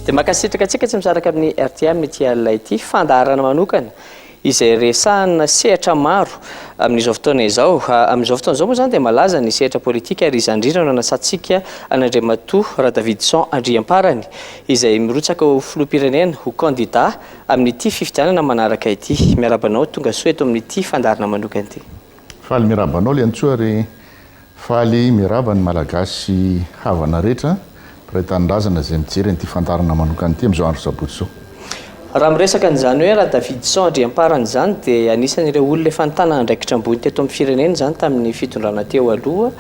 dia makasitraka antsika tsy misaraka amin'ny rtm ity alina ity fandaharana manokana izay resahana sehatra maro amin'izao fotoana izao amin'izao fotoana izao moa izany dia malaza ny sehatra politika ary izany indrindra no anasantsika an'andriamatoa radavison andriamparany izay mirotsaka ho filoham-pirenena, ho kandida, amin'ity fifidianana manaraka ity. Miaraba anao tonga soa eto amin'ity fandaharana manokana ity. Faly miraba anao Liantsoa re. Faly miraba ny Malagasy havana rehetra, mpiray tanindrazana izay mijery an'ity fandaharana manokana ity amin'izao andro sabotsy izao. Raha miresaka an'izany hoe Radavidison Andriamparany izany dia anisan'ireo olona efa nitana andraikitra ambony teto amin'ny firenena izany tamin'ny fitondrana teo aloha.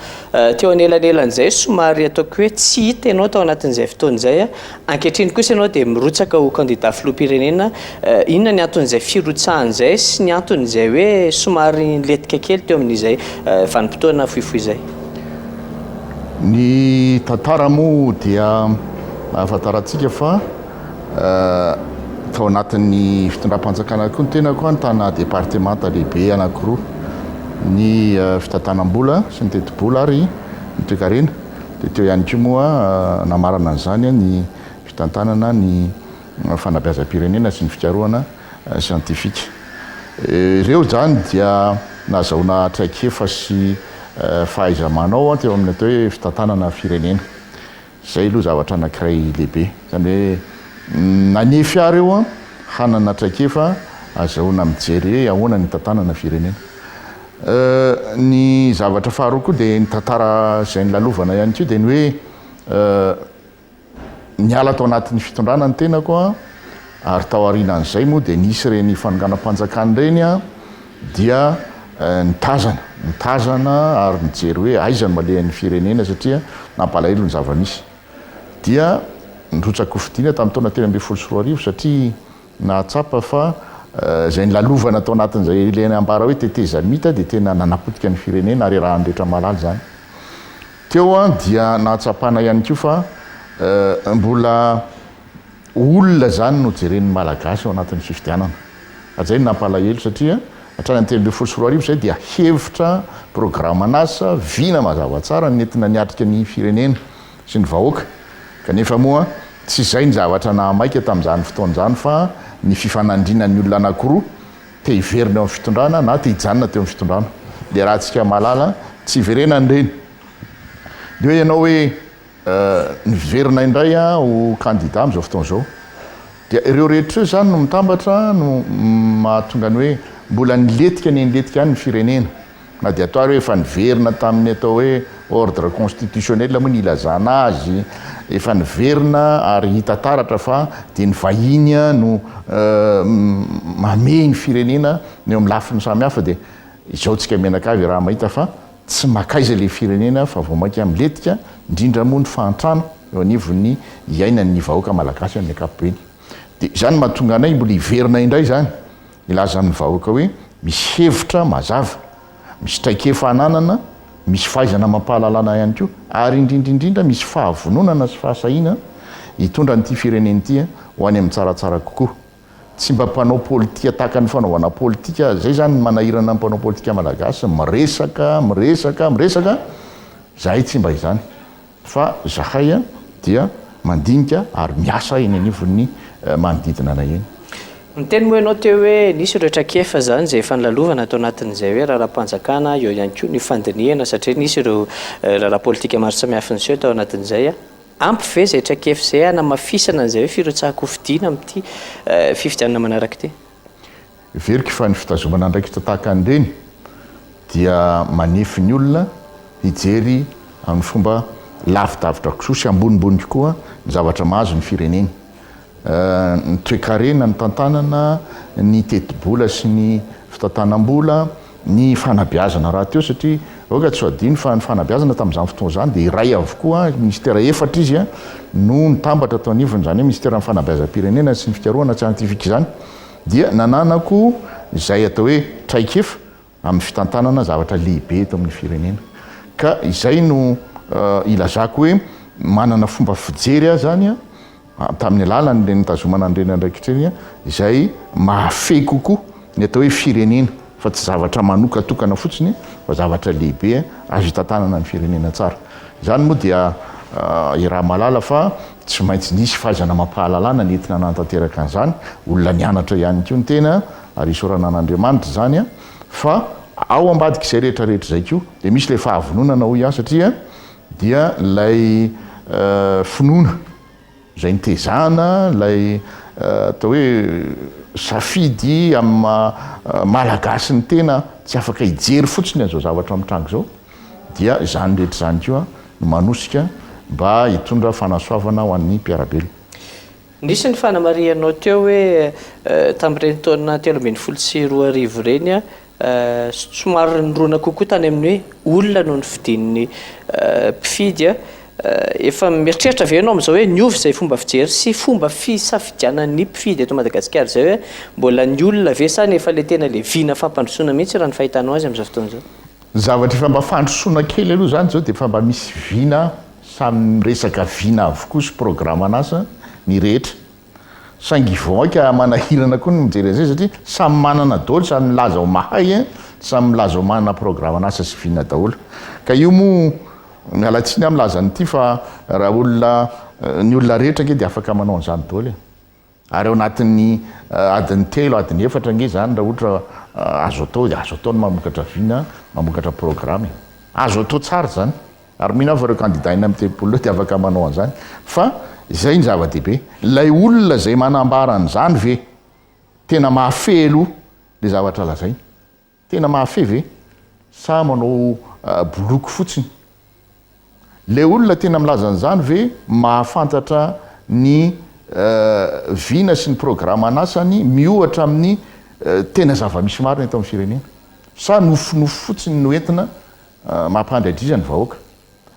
Teo anelanelan'izay somary ataoko hoe tsy hita ianao tao anatin'izay fotoana izay. Ankehitriny kosa ianao dia mirotsaka ho kandida filoham-pirenena. Inona ny anton'izay firotsahana izay sy ny anton'izay hoe somary nilentika kely teo amin'izay vanim-potoana fohifohy izay? Ny tantara moa dia ahafantarantsika fa. tao anatin'ny fitondram-panjakana koa ny tenako an tana departemanta lehibe anankiroa ny fitantanam-bola sy ny tetibola ary ny toekarena dia teo ihany koa moa namarana an'izany ny fitantanana ny fanabeazam-pirenena sy ny fikarohana siantifika ireo izany dia nazahoana traikefa sy fahaiza-manao teo amin'ny atao hoe fitantanana firenena Izay aloha zavatra anankiray lehibe. Izany hoe nanefy ahy ireo hanana traikefa azahoana mijery hoe ahoana ny hitantanana firenena. Ny zavatra faharoa koa dia ny tantara izay nilalovana ihany koa dia ny hoe niala tao anatin'ny fitondrana ny tenako ary tao aorianan'izay moa dia nisy ireny fanonganam-panjakana ireny dia nitazana, nitazana ary nijery hoe aiza no alehan'ny firenena satria nampalahelo ny zava-misy. Dia nirotsakofidina tamin'ny taona telo ambin'ny folo sy roa arivo satria nahatsapa fa izay nilalovana tao anatin'izay ilay ambara hoe tetezamita dia tena nanapotika ny firenena ary arahan'ny rehetra mahalala izany. Teo dia nahatsapana ihany koa fa mbola Olona izany no jeren'ny Malagasy ao anatin'ny fifidianana. Hatrizay no nampalahelo satria hatrany amin'ny telo ambin'ny folo sy roa arivo izay dia hevitra, programan'asa, vina mazava tsara ny nentina niatrika ny firenena sy ny vahoaka kanefa moa tsy izay ny zavatra nahamaika tamin'izany fotoana izany fa ny fifanandrinan'ny olona anakiroa te hiverina eo amin'ny fitondrana na te hijanona teo amin'ny fitondrana. Ilay raha antsika mahalala tsy iverenany ireny. Dia hoe ianao hoe. Niverina indray aho ho kandida amin'izao fotoana izao. Dia ireo rehetra ireo izany no mitambatra no mahatonga ny hoe mbola nilentika anie nilentika any ny firenena. Na dia atao ary hoe efa niverina tamin'ny atao hoe ordre constitutionnel moa ny ilazana azy, efa niverina ary hita taratra fa dia ny vahiny no mamehy ny firenena ny eo amin'ny lafiny samihafa dia izao tsika mianakavy raha mahita fa Tsy makaiza ilay firenena fa vao mainka milentika, indrindra moa ny fahantrana eo anivon'ny iainan'ny vahoaka malagasy amin'ny ankapobeny. Dia izany no mahatonga anay mbola hiverina indray izany hilaza amin'ny vahoaka hoe misy hevitra mazava, misy traikefa ananana, misy fahaizana amam-pahalalana ihany koa ary indrindra indrindra misy fahavononana sy fahasahiana hitondra an'ity firenena ity ho any amin'ny tsaratsara kokoa. tsy mba mpanao politika tahaka ny fanaovana politika zay zany ny manahirana ny mpanao politika malagasy miresaka miresaka miresaka zahay tsy mba izany fa zahay dia mandinika ary miasa eny anivon'ny eh, manodidina anay eny Niteny moa ianao teo hoe nisy ireo traikefa izany izay efa nilalovana tao anatin'izay hoe raharaham-panjakana, eo ihany koa ny fandinihana satria nisy ireo eh, raharaha politika maro samihafa niseho tao anatin'izay. Ampy ve izay traikefa izay hanamafisana an'izay hoe firotsahan-kofidina amin'ity fifidianana manaraka ity? Heveriko fa ny fitazomana andraikitra tahaka an'ireny dia manefy ny olona hijery amin'ny fomba lavidavitra kokoa sy ambonimbony kokoa ny zavatra mahazo ny fireneny. ny toekarena, ny tantanana, ny tetibola sy ny fitantanam-bola, ny fanabeazana rahateo satria aoka tsy ho adino fa ny fanabeazana tamin'izany fotoana izany dia iray avokoa, minisitera efatra izy no nitambatra tao anivony, izany hoe minisiteran'ny fanabeazam-pirenena sy ny fikarohana siantifika izany dia nananako izay atao hoe traikefa amin'ny fitantanana zavatra lehibe eto amin'ny firenena ka izay no ilazako hoe manana fomba fijery aho zany a tamin'ny alalan'ireny nitazomana an'ireny andraikitra ireny a izay mahafehy kokoa ny atao hoe firenena fa tsy zavatra manokatokana fotsiny fa zavatra lehibe azo hitantanana ny firenena tsara izany moa dia i raha malala fa tsy maintsy nisy fahaizana mampahalalana nentina nantanteraka an'izany olona nianatra ihany koa ny tena Ary isaorana an'Andriamanitra izany fa ao ambadik'izay rehetra rehetra izay koa dia misy ilay fahavononana hoy aho satria dia ilay finoana izay nitezana ilay atao hoe safidy amin'ny maha malagasy ny tena tsy afaka hijery fotsiny an'izao zavatra mitranga izao dia izany rehetra izany koa no manosika mba hitondra fanasoavana ho an'ny mpiara-belona. Nisy ny fanamarihanao teo hoe tamin'ireny taona telo ambin'ny folo sy roa arivo ireny, somary nirona kokoa tany amin'ny hoe olona no nofidin'ny mpifidy. Efa mieritreritra ve ianao amin'izao hoe niova izay fomba fijery sy fomba fisafidianan'ny mpifidy eto Madagasikara izay hoe mbola ny olona ve sa ny efa ilay tena ilay vina fampandrosoana mihitsy raha ny fahitanao azy amin'izao fotoana izao? Ny zavatra efa mba fandrosoana kely aloha izany izao dia efa mba misy vina Samy miresaka vina avokoa sy programan'asa ny rehetra. Saingy vaoaika manahirana koa ny mijery an'izay satria samy manana daholo, samy milaza ho mahay, samy milaza ho manana programan'asa sy vina daholo. Ka io moa, miala tsiny aho milaza an'ity fa raha olona, ny olona rehetra ange dia afaka manao an'izany daholo e! Ary ao anatin'ny adiny telo, adiny efatra ange izany raha ohatra azo atao dia azo atao ny mamokatra vina, mamokatra programa e. Azo atao tsara izany. Ary mino aho fa ireo kandida enina amby telopolo ireo dia afaka manao an'izany. Fa izay no zava-dehibe. Ilay olona izay manambara an'izany ve tena mahafehy aloha ilay zavatra lazainy? Tena mahafehy ve? Sa manao boloky fotsiny? Ilay olona tena milaza an'izany ve mahafantatra ny vina sy ny programan'asany miohatra amin'ny tena zava-misy marina eto amin'ny firenena? Sa nofinofy fotsiny no entina mampandry adriza ny vahoaka?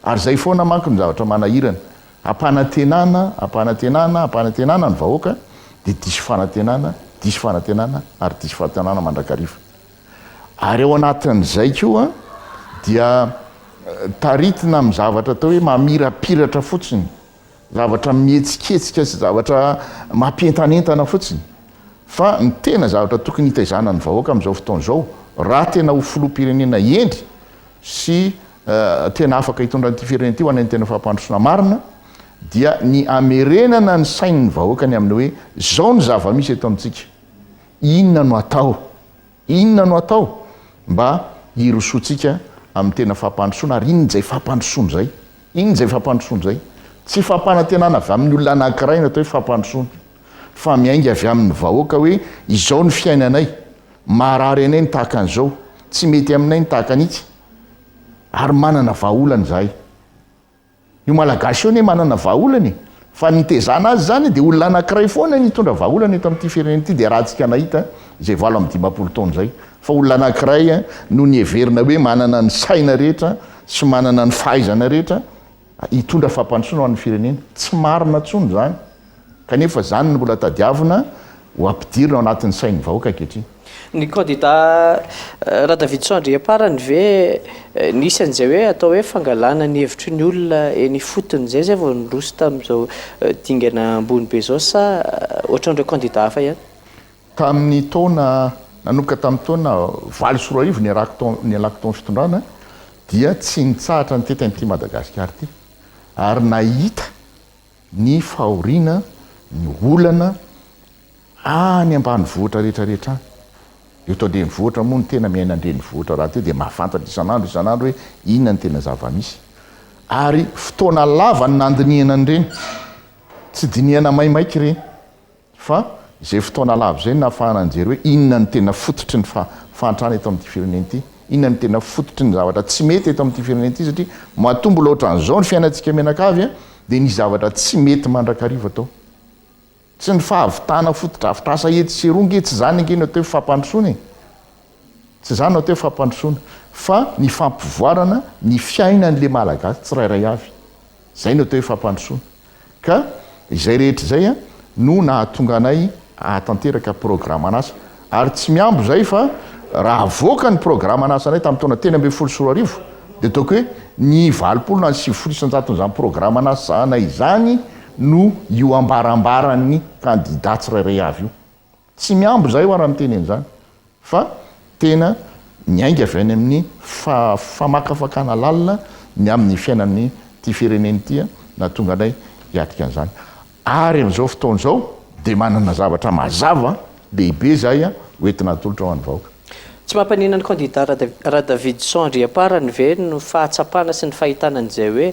Ary izay foana manko no zavatra manahirana. Ampanantenana, ampanantenana, ampanantenana ny vahoaka, dia diso fanantenana, diso fanantenana, ary diso fanantenana mandrakariva. Ary ao anatin'izay koa dia taritina amin'ny zavatra atao hoe mamirapiratra fotsiny, zavatra mihetsiketsika sy zavatra mampientanentana fotsiny. Fa ny tena zavatra tokony hitaizana ny vahoaka amin'izao fotoana izao, raha tena ho filoham-pirenena hendry sy tena afaka hitondra an'ity firenena ity ho any amin'ny tena fampandrosoana marina dia ny hamerenana ny sain'ny vahoaka ny amin'ny hoe izao ny zava-misy eto amintsika, inona no atao, inona no atao mba hirosoantsika amin'ny tena fampandrosoana ary inona izay fampandrosoana izay, inona izay fampandrosoana izay. Tsy fampanantenana avy amin'ny olona anankiray ny atao hoe fampandrosoana fa miainga avy amin'ny vahoaka hoe izao ny fiainanay, marary anay ny tahaka an'izao, tsy mety aminay ny tahaka an'itsy. ary manana vahaolana izahay. Io Malagasy io anie manana vahaolana e! Fa ny nitezana azy izany dia olona anankiray foana nitondra vahaolana eto amin'ity firenena ity dia rahantsika nahita izay valo amby dimampolo taona izay fa olona anankiray no niheverina hoe manana ny saina rehetra sy manana ny fahaizana rehetra hitondra fampandrosoana ho an'ny firenena. Tsy marina intsony izany, kanefa izany no mbola tadiavina ho ampidirina ao anatin'ny sain'ny vahoaka ankehitriny. Ny kandida Radavidson Andriamparany ve nisy an'izay hoe atao hoe fangalana ny hevitry ny olona eny ifotony izay izay vao niroso tamin'izao dingana ambony be izao sa ohatran'ireo kandida hafa ihany? Tamin'ny taona, nanomboka tamin'ny taona valo sy roa arivo niarahako tao, nialako tao amin'ny fitondrana, dia tsy nitsahatra nitety an'ity Madagasikara ity, ary nahita ny fahoriana, ny olana any ambanivohitra rehetra rehetra any. Eto an-drenivohitra moa no tena miaina an-drenivohitra rahateo dia mahafantatra isan'andro isan'andro hoe inona no tena zava-misy. Ary fotoana lava no nandinihana an'ireny, tsy dinihana maimaika ireny. Fa izay fotoana lava izay no nahafahana nijery hoe inona no tena fototry ny fahantrana eto amin'ity firenena ity, inona no tena fototry ny zavatra tsy mety eto amin'ity firenena ity satria matoa mbola ohatran'izao ny fiainantsika mianakavy dia nisy zavatra tsy mety mandrakariva tao. Tsy ny fahavitana fotodrafitrasa etsy sy eroa ange, tsy izany ange no atao hoe fampandrosoana e! Tsy izany no atao hoe fampandrosoana fa ny fampivoarana ny fiainan'le Malagasy tsirairay avy. Izay no atao hoe fampandrosoana. Ka izay rehetra izay no nahatonga anay hahatanteraka programan'asa. Ary tsy mihambo izay fa raha avoaka ny programan'asanay tamin'ny taona telo ambin'ny folo sy roa arivo dia ataoko hoe ny valopolo na ny sivifolo isan-jaton'izany programan'asanay izany no io ambarambaran'ny kandida tsirairay avy io. Tsy mihambo izahay ho'a raha miteny an'izany fa tena miainga avy any amin'ny famakafakana lalina ny amin'ny fiainan'ity firenena ity nahatonga anay hiatrika an'izany. Ary amin'izao fotoana izao dia manana zavatra mazava lehibe izahay hoentina atolotra ho an'ny vahoaka. Tsy mampaninona ny kandida Radavidison Andriamparany ve ny fahatsapana sy ny fahitana an'izay hoe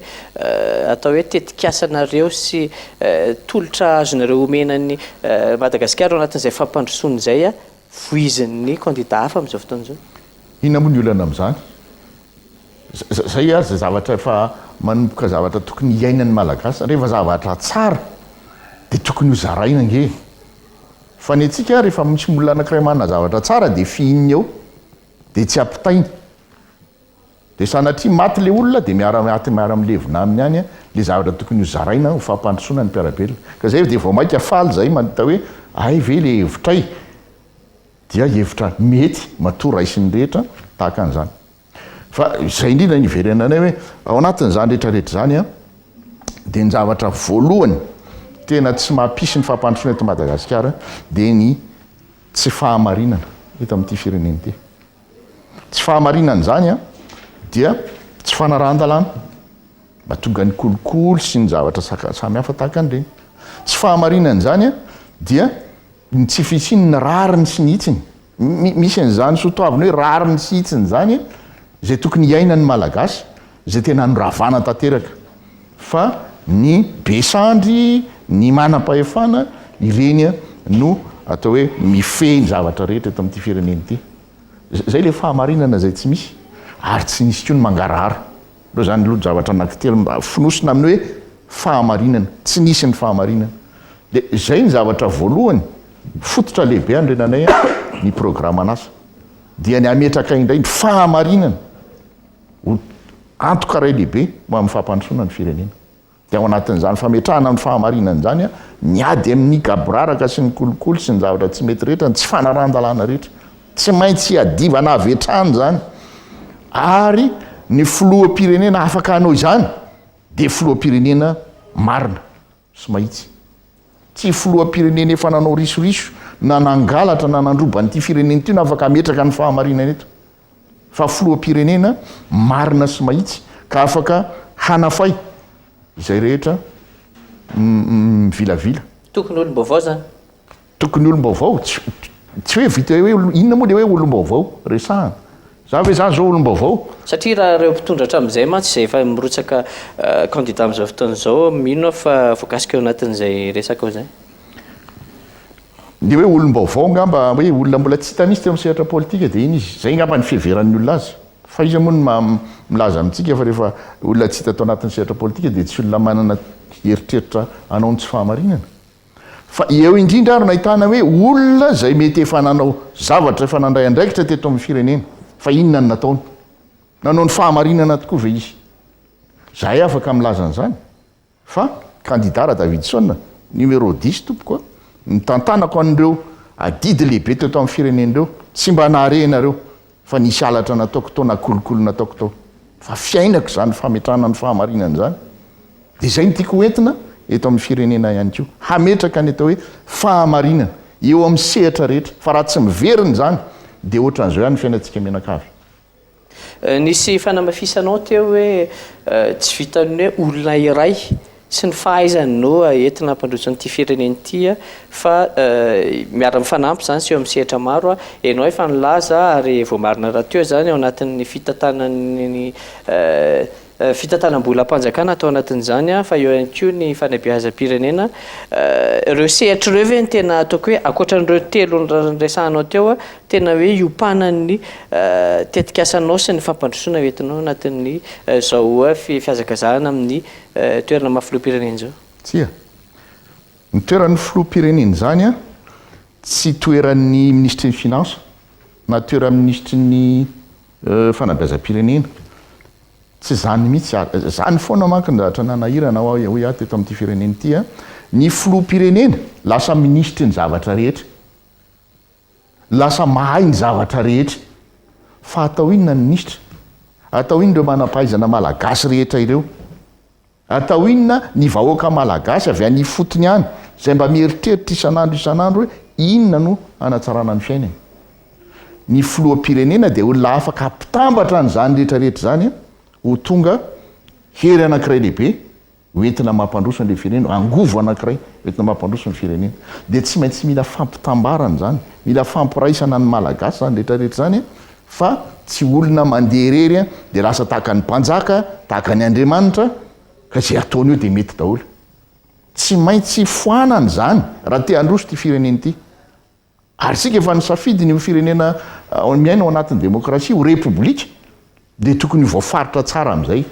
atao hoe tetikasanareo sy tolotra azonareo omena an'i Madagasikara ao anatin'izay fampandrosoana izay voizin'ny kandida hafa amin'izao fotoana izao? Inona moa ny olana amin'izany? Izay ary izay zavatra efa manomboka zavatra tokony hiainan'ny Malagasy. Rehefa zavatra tsara dia tokony hozaraina ange e! Fa ny antsika rehefa misy olona anankiray manana zavatra tsara dia fihininy eo dia tsy ampitainy. Dia sanatria maty ilay olona dia miara maty miara milevina aminy any ilay zavatra tokony ho zaraina ho fampandrosoana ny mpiara-belona. Ka zay dia vao maika faly zay mahita hoe hay ve ilay hevitray dia hevitra mety matoa raisin'ny rehetra tahaka an'izany. Fa izay indrindra no iverenanay hoe ao anatin'izany rehetra rehetra izany a, dia ny zavatra voalohany tena tsy mampisy ny fampandrosoana eto Madagasikara dia ny tsy fahamarinana eto amin'ity firenena ity. Tsy fahamarinana izany a dia tsy fanarahan-dalàna mba tonga ny kolikoly sy ny zavatra samy hafa tahaka an'ireny. Tsy fahamarinana izany a dia ny tsy fisian'ny rariny sy ny hitsiny. Misy an'izany soatoavina hoe rariny sy hitsiny izany izay tokony hiainan'ny Malagasy izay tena anoravana tanteraka fa ny be sandry, ny manam-pahefana ireny no atao hoe mifehy ny zavatra rehetra eto amin'ity firenena ity. Izay ilay fahamarinana izay tsy misy ary tsy nisy koa ny mangarahara. Ireo izany aloha javatra anankitelo mba fonosina amin'ny hoe fahamarinana, tsy nisy ny fahamarinana. Dia izay ny zavatra voalohany, fototra lehibe andrenanay ny programan'asa. Dia ny hametraka indray ny fahamarinana ho antoka iray lehibe ho amin'ny fampandrosoana ny firenena. Dia ao anatin'izany fametrahana ny fahamarinana izany, miady amin'ny gaboraraka sy ny kolikoly sy ny zavatra tsy mety rehetra, ny tsy fanarahan-dalàna rehetra. Tsy maintsy iadivana avy hatrany izany. Ary ny filoham-pirenena afaka hanao izany dia filoham-pirenena marina sy mahitsy. Tsy filoham-pirenena efa nanao risoriso, na nangalatra, na nandroba an'ity firenena ity no afaka hametraka ny fahamarinana eto. fa filoham-pirenena marina sy mahitsy ka afaka hanafay izay rehetra mivilavila. Tokony olom-baovao zany. Tokony olom-baovao, tsy hoe vita hoe inona moa le hoe olom-baovao resahana. Za ve za zao olom-baovao? Satria raha ireo mpitondra hatramin'izay mantsy izay efa mirotsaka candidat amin'izao fotoana izao, mino aho fa voakasika ao anatin'izay resaka ao izay. Dia hoe olom-baovao angamba, hoe olona mbola tsy hita mihitsy teo amin'ny sehatra politika dia iny izy. Izay angamba ny fiheveran'ny olona azy. Fa iza moa no maha milaza amintsika fa rehefa olona tsy hita tao anatin'ny sehatra politika dia tsy olona manana eritreritra hanao ny tsy fahamarinana? Fa eo indrindra ary no ahitana hoe olona izay mety efa nanao zavatra, efa nandray andraikitra teto amin'ny firenena. Fa inona no nataony? Nanao ny fahamarinana tokoa ve izy? Izahay afaka milaza an'izany? Fa kandida Radavidson, numéro dix tompoko a, nitantanako an'ireo adidy lehibe teto amin'ny firenena ireo, tsy mba nahare ianareo fa nisy halatra nataoko tao na kolikoly nataoko tao, fa fiainako izany fametrahana ny fahamarinana izany, dia izay no tiako ho entina eto amin'ny firenena ihany koa, hametraka ny atao hoe fahamarinana eo amin'ny sehatra rehetra, fa raha tsy miverina izany dia ohatran'izao ihany ny fiainantsika mianakavy. Nisy fanamafisanao teo hoe tsy vitan'ny hoe olona iray sy ny fahaizany no entina hampandroso an'ity firenena ity fa miara mifanampy izany sy eo amin'ny sehatra maro. Ianao efa nilaza ary voamarina rahateo izany ao anatin'ny fitantanan'ny Fitantanam-bolam-panjakana atao anatin'izany an, fa eo ihany koa ny fanabeazam-pirenena. Ireo sehatry ireo ve no tena ataoko hoe ankoatran'ireo telo noresahanao teo, tena hoe iompanan'ny tetikasanao sy ny fampandrosoana entinao anatin'ny izao fihazakazahana amin'ny toerana maha filoham-pirenena izao? Tsia. Ny toeran'ny filoham-pirenena izany an, tsy toeran'ny minisitry ny finances na toeran'ny minisitry ny. Fanabeazam-pirenena. Tsy izany mihitsy ary. Izany foana manko ny zavatra nanahirana ahy hoy aho teto amin'ity firenena ity. Ny filoham-pirenena lasa minisitry ny zavatra rehetra. Lasa mahay ny zavatra rehetra. Fa atao inona ny minisitra? Atao inona ireo manam-pahaizana malagasy rehetra ireo? Atao inona ny vahoaka malagasy avy any ifotony any izay mba mieritreritra isan'andro isan'andro hoe inona no hanatsarana ny fiainany? Ny filoham-pirenena dia olona afaka hampitambatra an'izany rehetra rehetra izany ho tonga hery anankiray lehibe ho entina mampandroso an'ilay firenena, angovo anankiray ho entina mampandroso ny firenena. Dia tsy maintsy mila fampitambarana izany, mila fampiraisana ny malagasy izany rehetra rehetra izany fa tsy olona mandeha irery an dia lasa tahaka ny mpanjaka, tahaka ny Andriamanitra, ka izay ataony eo dia mety daholo. Tsy maintsy foanana izany raha te handroso ity firenena ity. Ary isika efa nisafidy ny ho firenena miaina ao anatin'ny demokrasia, ho repoblika, dia tokony ho voafaritra tsara amin'izay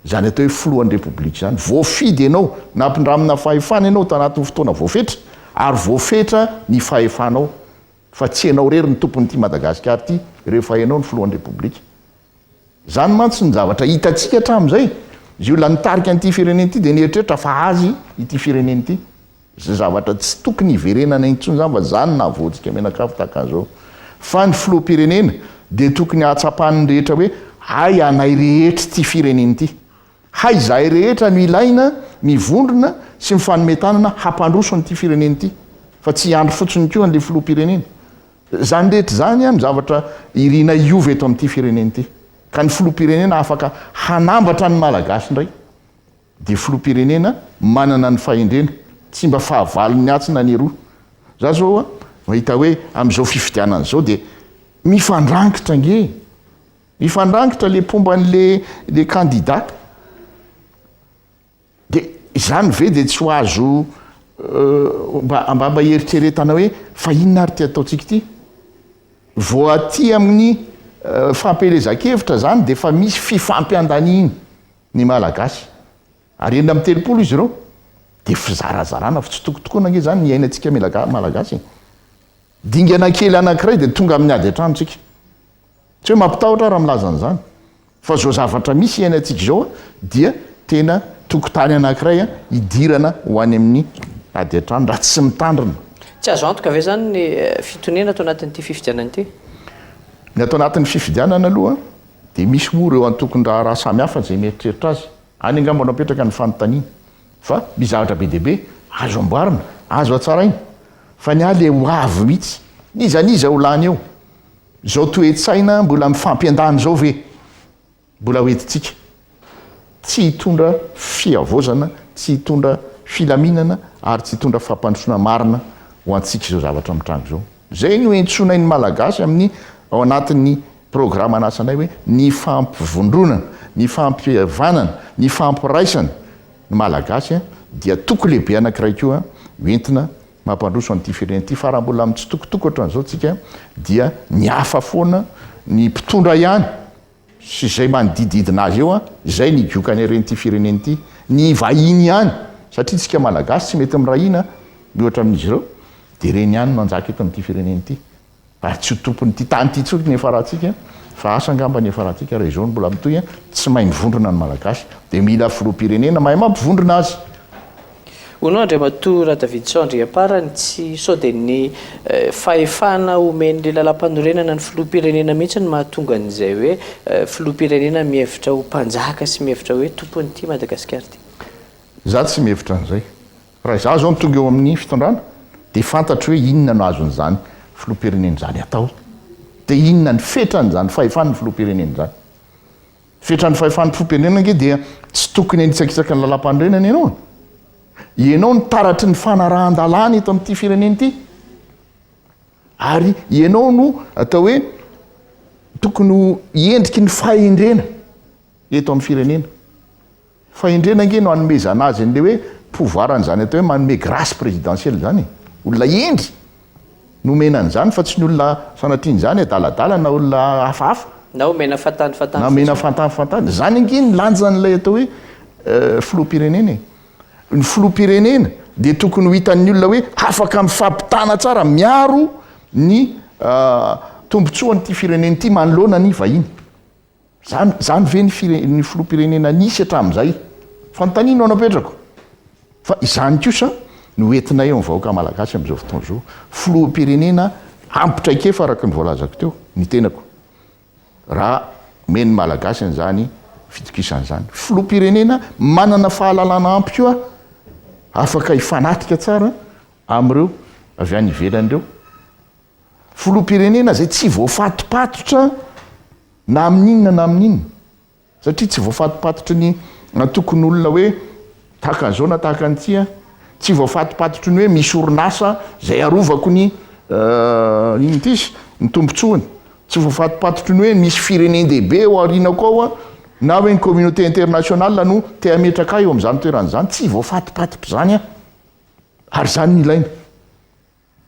izany atao hoe filohan'ny repoblika izany. Voafidy ianao, nampindramina fahefana ianao tanatin'ny fotoana voafetra, ary voafetra ny fahefanao. Fa tsy enao rery no tompon ity Madagascar ity rehefa enao no filohan repoblika. Zany mantsy ny zavatra hitantsika hatramin zay. Zy olona nitarika an'ity firenena ity dia nieritreritra fa azy ity firenena ity. Zy zavatra tsy tokony hiverenana intsony zany fa zany nahavoantsika menakavy tahaka an'zao. Fa ny filoha mpirenena dia tokony hahatsapan'ny rehetra hoe hay anay rehetra ity firenena ity. Hay izahay rehetra no ilaina mivondrona sy mifanome tanana hampandroso an'ity firenena ity fa tsy hiandry fotsiny koa an'ilay filoham-pirenena. Izany rehetra izany no zavatra irinay hiova eto amin'ity firenena ity ka ny filoham-pirenena afaka hanambatra ny Malagasy indray dia filoham-pirenena manana ny fahendrena, tsy mba fahavalon'ny atsy na ny eroa. Za zao mahita hoe amin'izao fifidianana izao dia mifandrangitra ange e! Mifandrangitra le mpomba an'le le candidat de izany ve de tsy ho azo mba mba hieritreretana hoe fa inona ary ty ataontsika ity? Vao aty amin'ny fampielezan-kevitra izany dia efa misy fifampiandaniany ny Malagasy. Ary enina amby telopolo izy ireo dia fizarazarana fa tsy tokony tokoana ange izany ny iainantsika Malagasy e! Dingana kely anankiray dia tonga amin'ny ady an-tranontsika. Tsy hoe mampitahotra aho raha milaza an'izany fa izao zavatra misy iainantsika izao dia tena tokotany anankiray hidirana ho any amin'ny ady an-trano raha tsy mitandrina. Tsy azo antoka ve izany ny fitoniana ato anatin'ity fifidianana ity? Ny ato anatin'ny fifidianana aloha dia misy moa ireo antokon-draharaha samihafa izay mieritreritra azy. Any angamba no apetraka ny fanontaniana. Fa misy zavatra be dia be azo amboarina, azo hatsaraina. Fa ny ahy ilay ho avy mihitsy, iza n'iza ho lany eo? Izao toe-tsaina mbola mifampiandany izao ve mbola hoentintsika? Tsy hitondra fihavaozana, tsy hitondra filaminana ary tsy hitondra fampandrosoana marina ho antsika izao zavatra mitranga izao. Izay no iantsoanay ny Malagasy amin'ny ao anatin'ny programan'asanay hoe ny fampivondronana, ny fampihavanana, ny fampiraisana ny Malagasy dia toko lehibe anankiray koa hoentina Mampandroso an'ity firenena ity fa raha mbola mitsitokotoko ohatran'izao tsika dia ny hafa foana ny mpitondra ihany sy izay manodididina azy eo izay ny giokany haren'ity firenena ity. Ny vahiny ihany satria tsika malagasy tsy mety mirahina mihoatra amin'izy ireo dia ireny ihany no hanjaka eto amin'ity firenena ity. Ary tsy ho tompon'ity tany ity intsony ny Efaratika fa asa angamba ny Efaratika raha izao no mbola mitohy an! Tsy mahay mivondrona ny Malagasy dia mila filoham-pirenena mahay mampivondrona azy! Hono Andriamatoa Radavidson Andriamparany tsy sao dia ny fahefana omen'ilay lalampanorenana ny filoham-pirenena mihitsy no mahatonga an'izay hoe filoham-pirenena mihevitra ho mpanjaka sy mihevitra hoe tompon'ity Madagasikara ity? Za tsy mihevitra an'izay. Raha izaho izao no tonga eo amin'ny fitondrana dia fantatro hoe inona no azon'izany filoham-pirenena izany atao, dia inona ny fetran'izany fahefan'ny filoham-pirenena izany. Fetran'ny fahefan'ny mpiloham-pirenena ange dia tsy tokony hanitsakitsaka ny lalàmpanorenana ianao e! Ianao no taratry ny fanarahan-dalàna eto amin'ity firenena ity, ary ianao no atao hoe tokony ho endriky ny fahendrena eto amin'ny firenena. Fahendrena ange no anomezana azy an'ilay hoe pouvoir an'izany atao hoe manome grace présidentielle izany e! Olona hendry no omena an'izany fa tsy ny olona sanatria an'izany adaladala na olona hafahafa. Na omena fantany fantany fotsiny. Na omena fantany fantany. Izany ange ny lanjan'ilay atao hoe filoham-pirenena e! Ny filoham-pirenena dia tokony ho hitan'ny olona hoe afaka mifampitana tsara, miaro ny tombontsoan'ity firenena ity manoloana ny vahiny. Zany zany ve ny fire ny filoham-pirenena nisy hatramin'izay? Fanontaniana no anapetrako. Fa izany kosa no ho entinay amin'ny vahoaka malagasy amin'izao fotoana izao. Filoham-pirenena ampy traikefa araka ny voalazako teo ny tenako. Raha omen'ny malagasy an'izany fitokisana izany. Filoham-pirenena manana fahalalana ampy koa afaka hifanatrika tsara amin'ireo avy any ivelany ireo. Filoham-pirenena izay tsy voafatopatotra na amin'inona na amin'inona. Satria tsy voafatopatotry ny antokon'olona hoe tahaka an'izao na tahaka an'ity aho. Tsy voafatopatotry ny hoe misy orinasa izay arovako ny inona ity izy? ny tombontsoany. Tsy voafatopatotry ny hoe misy firenen-dehibe ao aorianako ao aho na hoe ny communauté internationale no te hametraka ahy eo amin'izany toerana izany. Tsy voafatopatotr'izany aho. Ary izany no ilaina.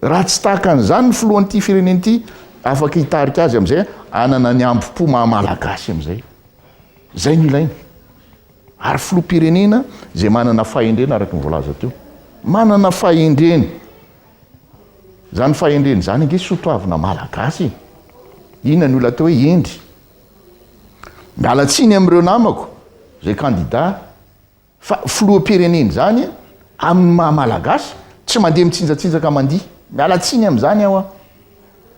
Raha tsy tahaka an'izany ny filohan'ity firenena ity, afaka hitarika azy amin'izay hanana ny ambom-po maha Malagasy amin'izay. Izay no ilaina. Ary filoham-pirenena izay manana fahendrena araka ny voalaza teo. Manana fahendrena. Izany fahendrena izany ange soatoavina Malagasy e. Inona ny olona atao hoe hendry? Miala tsiny amin'ireo namako, izay kandidà, Fa filoham-pirenena izany amin'ny maha malagasy tsy mandeha mitsinjatsinjaka mandihy. Miala tsiny amin'izany aho an!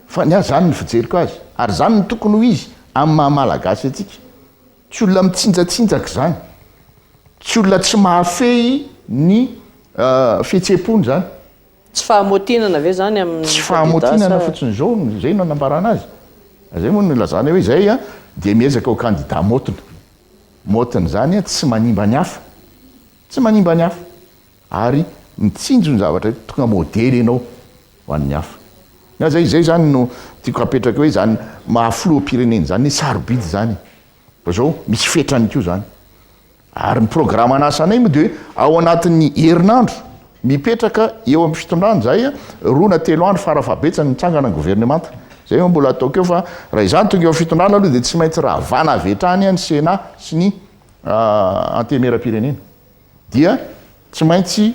Fa ny ahy izany ny fijeriko azy. Ary izany no tokony ho izy amin'ny maha malagasy antsika. Tsy olona mitsinjatsinjaka izany. Tsy olona tsy mahafehy ny fihetseham-pony izany. Tsy fahamotinana ve zany amin'ny kandida sa? Tsy fahamotinana fotsiny izao no zay no anambarana azy. Zay moa no ilazana hoe zay dia miezaka ho kandida motina. Motina zany tsy manimba ny hafa. Tsy manimba ny hafa. Ary mitsinjo ny zavatra hoe tonga modely ianao ho an'ny hafa. Nga zay zay zany no tiako hapetraka hoe zany maha filoham-pirenena zany hoe sarobidy zany e. Fa zao misy fetrany koa zany. Ary ny programan'asanay moa dia hoe ao anatin'ny herinandro mipetraka eo amin'ny fitondrana izahay, roa na telo andro fara fahabetsany mitsangana ny governemanta. Izay no mbola ataoko eo fa raha izany tonga eo amin'ny fitondrana aloha dia tsy maintsy ravana avy hatrany ny Sénat sy ny Antenimierampirenena. Dia tsy maintsy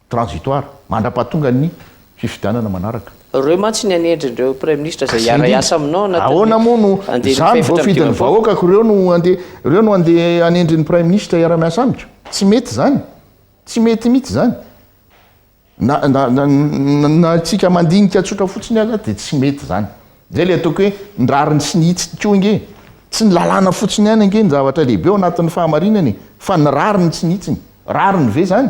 Transitoire, mandra-pahatonga ny fifidianana manaraka. Reo mantsy ny anendry ndreo praiminisitra zay hiara hiasa aminao anatin'ny Ahoana moa no zany voafidin'ny vahoaka ko reo no andeha reo no andeha anendry ny praiminisitra hiara miasa amiko? Tsy mety zany, tsy mety mitsy zany. Na na tsika mandinika tsotra fotsiny aza de tsy mety zany. Zay le ataoko hoe ny rariny sy ny hitsiny ko ange tsy ny lalàna fotsiny ihany ange ny zavatra lehibe ao anatin'ny fahamarinana e fa ny rariny sy ny hitsiny. Rariny ve zany?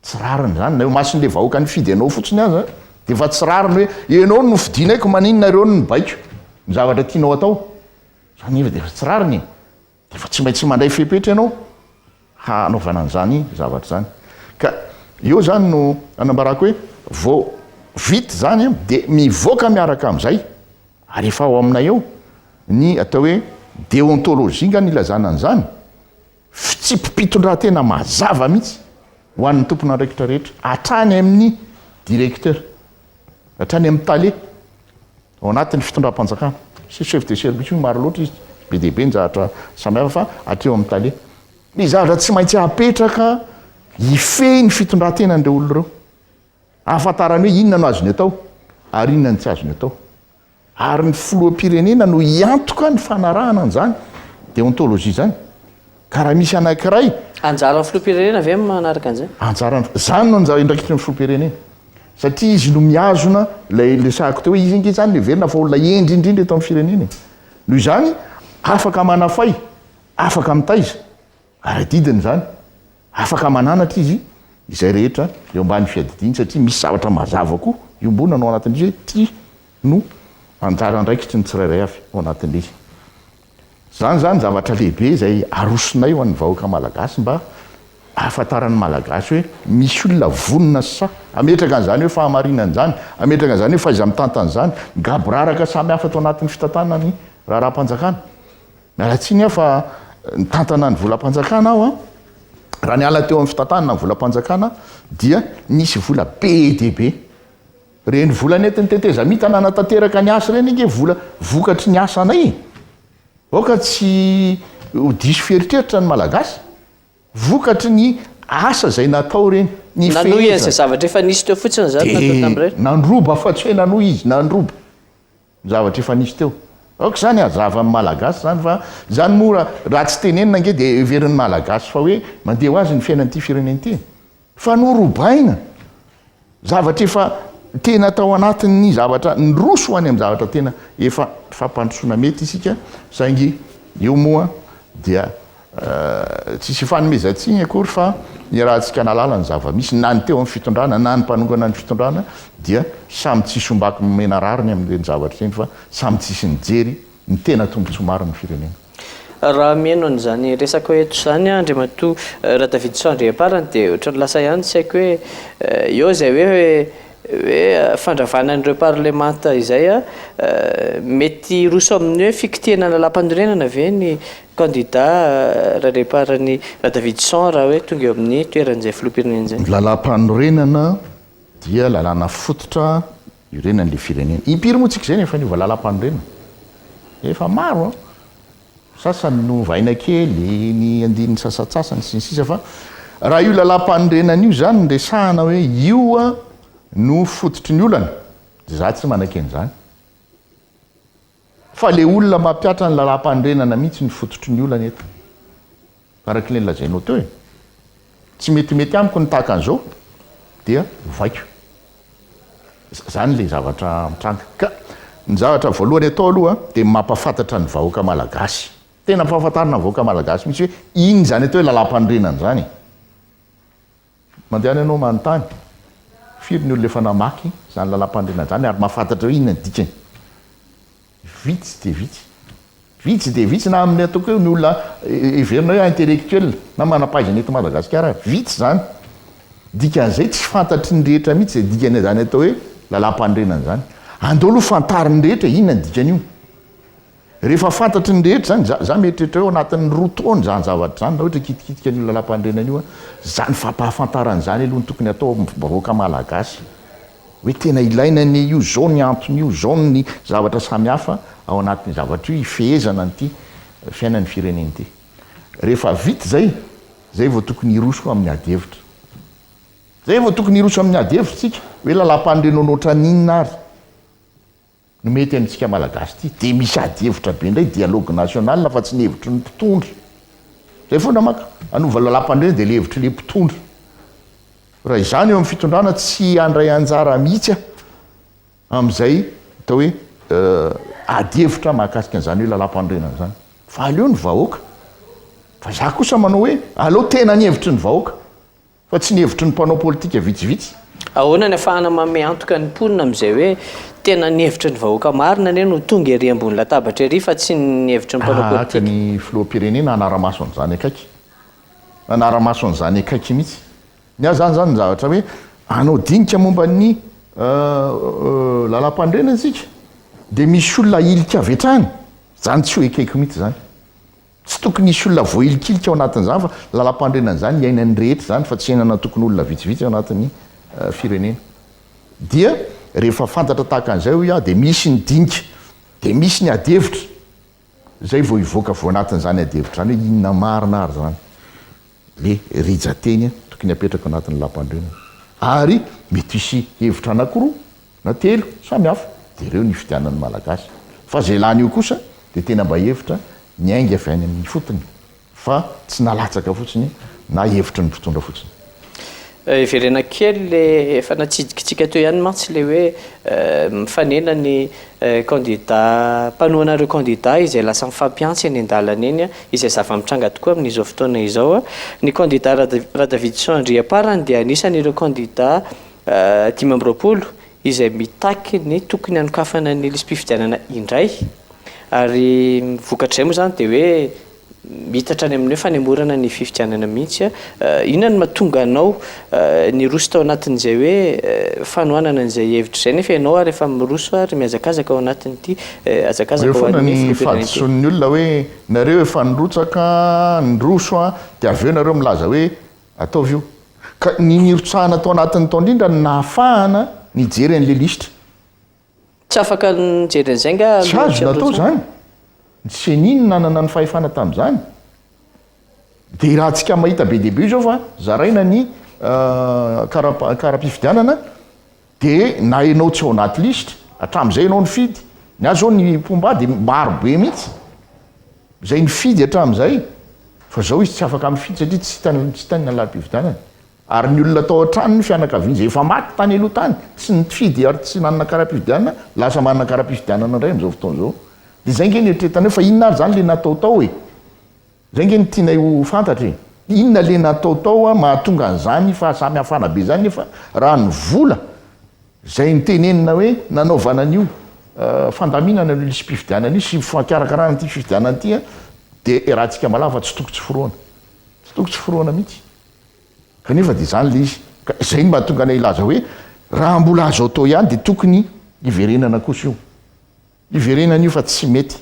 Tsy rariny zany na eo mason'le vahoaka nifidy anao fotsiny aza de efa tsy rariny hoe ianao no nofidinay ko maninona ireo no mibaiko ny zavatra tianao atao. Zany nefa de efa tsy rariny e. De efa tsy maintsy mandray fepetra ianao hanaovana an'zany zavatra zany. Ka eo zany no anambarako hoe vao vita zany a de mivoaka miaraka am'zay ary efa ao aminay ao ny atao hoe deontologie nga no ilazana an'zany. Fitsipi-pitondrantena mazava mihitsy ho an'ny tompon'andraikitra rehetra, hatrany amin'ny directeur, hatrany amin'ny tale ao anatin'ny fitondram-panjakana. Tsy chef de service hoe maro loatra izy, be dia be ny zavatra samihafa fa hatreo amin'ny tale. Ny zavatra tsy maintsy hapetraka hifehy ny fitondrantenan'ireo olona ireo, hahafantarany hoe inona no azony atao ary inona no tsy azony atao. Ary ny filoham-pirenena no hiantoka ny fanarahana an'izany déontologie izany. Ka raha misy anankiray. Anjaran'ny filoham-pirenena ve ny manaraka an'izay? Anjaran'ny, izany no andraikitry ny filoham-pirenena. Satria izy no mihazona ilay niresahako teo hoe izy ange izany no heverina fa olona hendry indrindra eto amin'ny firenena e. Noho izany, afaka manafay, afaka mitaiza. Ary adidiny izany, afaka mananatra izy izay rehetra eo ambany fiadidiany satria misy zavatra mazava koa iombonana ao anatin'izy hoe ty no anjara andraikitry ny tsirairay avy ao anatin'izy. Izany izany zavatra lehibe izay arosonay ho an'ny vahoaka malagasy mba ahafantaran'ny malagasy hoe misy olona vonona sy sahy hametraka an'izany hoe fahamarinana izany, hametraka an'izany hoe fahaiza-mitantana izany, ny gaboraraka samihafa ato anatin'ny fitantanana ny raharaham-panjakana. Miala tsiny aho fa nitantana ny volam-panjakana aho an! Raha niala teo amin'ny fitantanana ny volam-panjakana aho dia nisy vola be dia be. Ireny vola nentin'ny tetezamita nanatanteraka ny asa ireny ange vola vokatry ny asanay e! Aoka tsy ho diso fieritreritra ny Malagasy. Vokatry ny asa izay natao ireny, ny fehezana. Nanohy an'izay zavatra efa nisy teo fotsiny izany nataony tamin'ireny? Dia nandroba fa tsy hoe nanohy izy, nandroba. ny zavatra efa nisy teo. Aoka izany hazava amin'ny Malagasy izany fa izany moa raha tsy tenenina ange dia heverin'ny Malagasy fa hoe mandeha ho azy ny fiainan'ity firenena ity. Fa norobaina zavatra efa tena tao anatin'ny zavatra niroso ho any amin'ny zavatra tena efa fampandrosoana mety isika saingy io moa dia Tsisy ifanomezantsiny akory fa iarahantsika nahalala ny zava-misy, na ny teo amin'ny fitondrana na ny mpanongana ny fitondrana dia samy tsisy ombaky nomena rariny amin'ireny zavatra ireny fa samy tsisy nijery ny tena tombontsoa marin'ny firenena. Raha mihaino an'izany resaka eto izany aho Andriamatoa Radavidison Andriamparany dia ohatran'ny lasa ihany ny saiko hoe eo izay hoe hoe fandravana an'ireo parlemanta izay mety hiroso amin'ny hoe fikitinana lalàmpanorenana ve ny kandida ralehiparan'i Radavison raha hoe tonga eo amin'ny toeran'izay filoham-pirenena izay. Ny lalàmpanorenana dia lalàna fototra iorenan'ilay firenena. Impiry moa tsika izay no efa niova lalàmpanorenana? Efa maro an! sasany no ovaina kely ny andininy sasatsasany sy ny sisa fa raha io lalam-panorenana io izany no resahana hoe io no fototry ny olana dia za tsy manakena izany fa le olona mampihatra ny lalam-panorenana mihitsy no fototry ny olana eto Araka ilay nolazainao teo e! Tsy metimety amiko ny tahaka an'izao dia vaiko. Izany ilay zavatra mitranga. Ka ny zavatra voalohany atao aloha dia mampahafantatra ny vahoaka malagasy. Tena ampahafantarina ny vahoaka malagasy mihitsy hoe inona izany atao hoe lalam-panorenana izany e! Mandehana ianao manontany, firy ny olona efa namaky izany lalam-panorenana izany ary mahafantatra hoe inona ny dikany? Vitsy dia vitsy. Vitsy dia vitsy na amin'ny ataoko hoe ny olona heverinao hoe intellectuel na manam-pahaizana eto Madagasikara ary. Vitsy izany. Dikan'izay tsy fantatry ny rehetra mihitsy izay dikan'izany atao hoe lalam-panorenana izany. Andao aloha fantarin'ny rehetra e, inona ny dikan'io? Rehefa fantatry ny rehetra izany, izaho mieritreritra hoe ao anatin'ny roa taona izany zavatra izany, raha ohatra hikitikitika an'io Lalàmpanorenana io, izany fampahafantarana izany aloha no tokony hatao amin'ny vahoaka malagasy hoe tena ilaina anie io, izao ny anton'io, izao ny zavatra samihafa ao anatin'io zavatra io hifehezana an'ity fiainan'ny firenena ity. Rehefa vita izay, izay vao tokony hiroso amin'ny ady hevitra. Izay vao tokony hiroso amin'ny ady hevitra isika, hoe Lalàmpanorenana ohatran'inona ary? no mety amintsika malagasy ity dia misy ady hevitra be indray dialogue national fa tsy ny hevitry ny mpitondra zay foana maka hanova lalampanorenana dia le hevitry le mpitondra raha izany eo amin'ny fitondrana tsy handray anjara mihitsy a amin'izay atao hoe euh, ady hevitra mahakasika an'izany hoe lalampanorenana izany fa aleo ny vahoaka fa za kosa manao hoe aleo tena ny hevitry ny vahoaka Fa tsy ny hevitry ny mpanao politika vitsivitsy. Ahoana ny afahana manome antoka ny mponina amin'izay hoe tena ny hevitry ny vahoaka marina anie no tonga ery ambony latabatra ery fa tsy ny hevitry ny mpanao politika? Tahaka ny filoham-pirenena hanara-maso an'izany akaiky. Hanara-maso an'izany akaiky mihitsy. Ny ahy izany izany ny zavatra hoe hanao dinika momba ny Lalàmpanorenana isika dia misy olona ahilika avy hatrany. Izany tsy ho ekeko mihitsy izany. Tsy tokony hisy olona voahilikilika ao anatin'izany fa lalampanorenana izany iainan'ny rehetra izany fa tsy iainan'antokon'olona vitsivitsy ao anatin'ny firenena. Dia rehefa fantatra tahaka an'izay hoy aho dia misy ny dinika, dia misy ny adihevitra, izay vao hivoaka avy ao anatin'izany adihevitra izany hoe inona marina ary izany le rija-teny tokony hapetraka ao anatin'ny lalampanorenana. Ary mety hisy hevitra anankiroa Na telo, samy hafa, dia ireo no ifidianan'ny Malagasy. Fa izay lany eo kosa dia tena mba hevitra niainga avy any amin'ny ifotony, fa tsy nalatsaka fotsiny na hevitry ny mpitondra fotsiny. Heverena kely le efa natsidikitsika teo ihany mantsy le hoe mifanena ny kandida mpanohana ireo kandida izay lasa mifampihantsy eny an-dalana eny, izay zava-mitranga tokoa amin'izao fotoana izao. Ny kandida Radavitson Andriamparany dia anisan'ireo kandida dimy amby roapolo izay mitaky ny tokony hanokafana ny lisi-pifidianana indray ary vokatr'izay moa izany dia hoe mitatra any amin'ny hoe fanemorana ny fifidianana mihitsy a inona no mahatonga anao niroso tao anatin'izay hoe fanohanana an'izay hevitra izay nefa ianao ary efa miroso ary mihazakazaka ao anatin'ity hazakazaka ho an'ny filoham-pirenena ity. Eo foana ny fahadisoan'ny olona hoe nareo efa nirotsaka, niroso dia avy eo nareo milaza hoe Ataovy io. Ka ny nirotsahana tao anatiny tao indrindra no nahafahana nijery an'ilay lisitra. Tsy afaka nijery an'izay nga aloha tsy nirotsahana? Tsy azo natao izany. Ny ceni no nanana ny fahefana tamin'izany. Dia iarahantsika mahita be dia be izao fa zaraina ny kara-pifidianana. Dia na enao tsy ao anaty lisitra, hatramin'izay enao nifidy, ny ahy zao ny mpomba ahy dia maro be mihitsy, izay nifidy hatramin'izay, fa zao izy tsy afaka mifidy satria tsy hitany tsy hitany ny lalàm-pifidianana, ary ny olona tao an-tranony ny fianakaviany izay efa maty tany aloha tany, tsy nifidy ary tsy nanana kara-pifidianana, lasa manana kara-pifidianana indray amin'izao fotoana izao, dia izay nge no eritreretanareo, fa inona ary izany ilay natao tao e? Zay nge no tianay ho fantatra e! Inona le natao tao mahatonga an'izany fahasamihafana be zany nefa raha ny vola zay nitenenina hoe nanaovana an'io fandaminana an'io lisi-pifidianana io sy fikarakarana ity fifidianana ity de erahantsika malaho fa tsy toko tsy forohana. Tsy toko tsy forohana mihitsy. Kanefa de zany le izy. Ka zay no mahatonga anay hilaza hoe raha mbola azo atao ihany de tokony hiverenana kosa io. Hiverenany io fa tsy mety.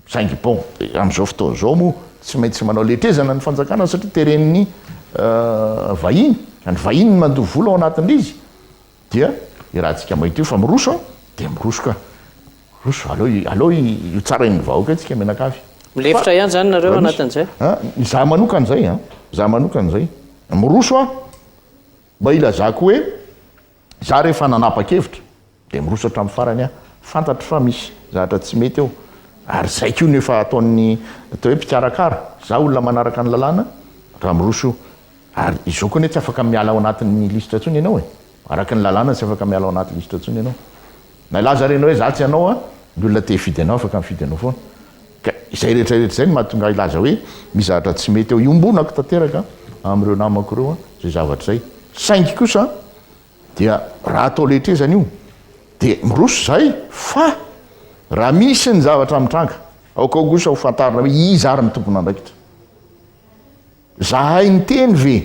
Saingy bon, amin'izao fotoana izao moa tsy maintsy manao letrezana ny fanjakana satria teren'ny vahiny, ka ny vahiny no mandoa vola ao anatin'ilay izy, dia io rahantsika mainty io fa miroso an, dia miroso ka. Miroso, aleo i, aleo i, io tsarain'ny vahoaka io tsika mianakavy. Milefitra ihany izany nareo anatin'izay? A, izaho manokana izay an, izaho manokana izay. Miroso aho, mba hilazako hoe izaho re efa nanapa-kevitra. Dia miroso hatramin'ny farany aho. Fantatro fa misy zavatra tsy mety eo. Ary izay koa no efa ataon'ny atao hoe mpikarakara. Izaho olona manaraka ny lalàna raha miroso io. Ary izao koa anie tsy afaka miala ao anatin'ny lisitra intsony ianao e. Araka ny lalàna tsy afaka miala ao anaty lisitra intsony ianao. Na hilaza renao hoe izaho tsy hanao an, ny olona te hifidy anao afaka mifidy anao foana. Ka izay rehetra rehetra izay no mahatonga ahy hilaza hoe misy zavatra tsy mety eo. Iombonako tanteraka amin'ireo namako ireo izay zavatra izay. Saingy kosa Dia raha atao lehitrezana io dia miroso izay fa raha misy ny zavatra mitranga aokao kosa ho fantarina hoe iza ary ny tompon'andraikitra. Zahay niteny ve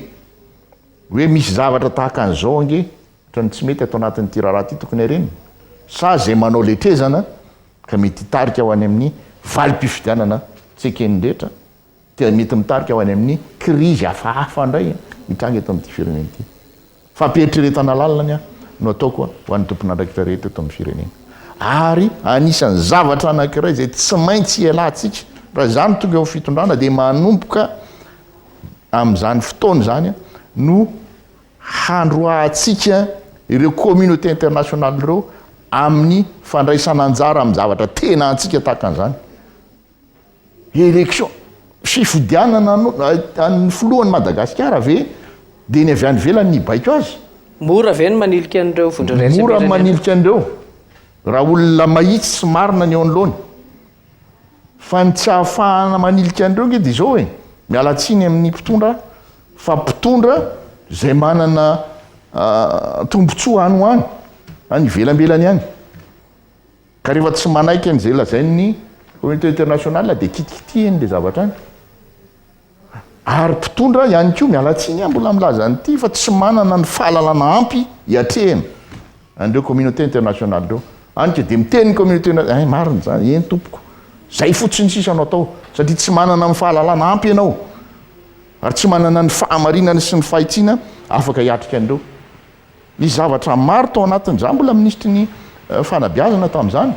hoe misy zavatra tahaka an'izao ange ohatran'ny tsy mety ato anatin'ity raharaha ity tokony harenina sa izay manao lehitrezana ka mety hitarika ho any amin'ny valim-pifidianana tsy eken'ny rehetra dia mety mitarika ho any amin'ny krizy hafahafa indray hitranga eto amin'ity firenena ity. Fampieritreretana lalina ny ahy no ataoko ho an'ny tompon'andraikitra rehetra eto amin'ny firenena. Ary anisan'ny zavatra anankiray izay tsy maintsy hialantsika raha izaho no tonga eo amin'ny fitondrana dia manomboka amin'izany fotoana izany no handroahantsika ireo communauté internationale ireo amin'ny fandraisana anjara amin'ny zavatra tena antsika tahaka an'izany. Élection, fifidianana an'ny filohan'i Madagasikara ve dia ny avy any ivelany no hibaiko azy? Mora ve ny manilika an'ireo vondrona iraisam-pirenena? Mora ny manilika an'ireo raha olona mahitsy sy marina ny eo anoloany. Fa ny tsy ahafahana manilika an'ireo ange dia izao e, miala tsiny amin'ny mpitondra fa mpitondra izay manana tombotsoa any ho any, any ivelambelany any. Ka rehefa tsy manaiky an'izay lazain'ny communauté internationale dia kitikitihiny ilay zavatra any. Ary mpitondra ihany koa, miala tsiny aho mbola milaza an'ity fa tsy manana ny fahalalana ampy hiatrehana an'ireo communauté internationale ireo. Any ka dia miteny ny communauté internationale, eh marina izany, eny tompoko, izay fotsiny sisa no atao satria tsy manana ny fahalalana ampy ianao ary tsy manana ny fahamarinana sy ny fahitsiana afaka hiatrika an'ireo. Nisy zavatra maro tao anatiny, izaho mbola minisitry ny fanabeazana tamin'izany,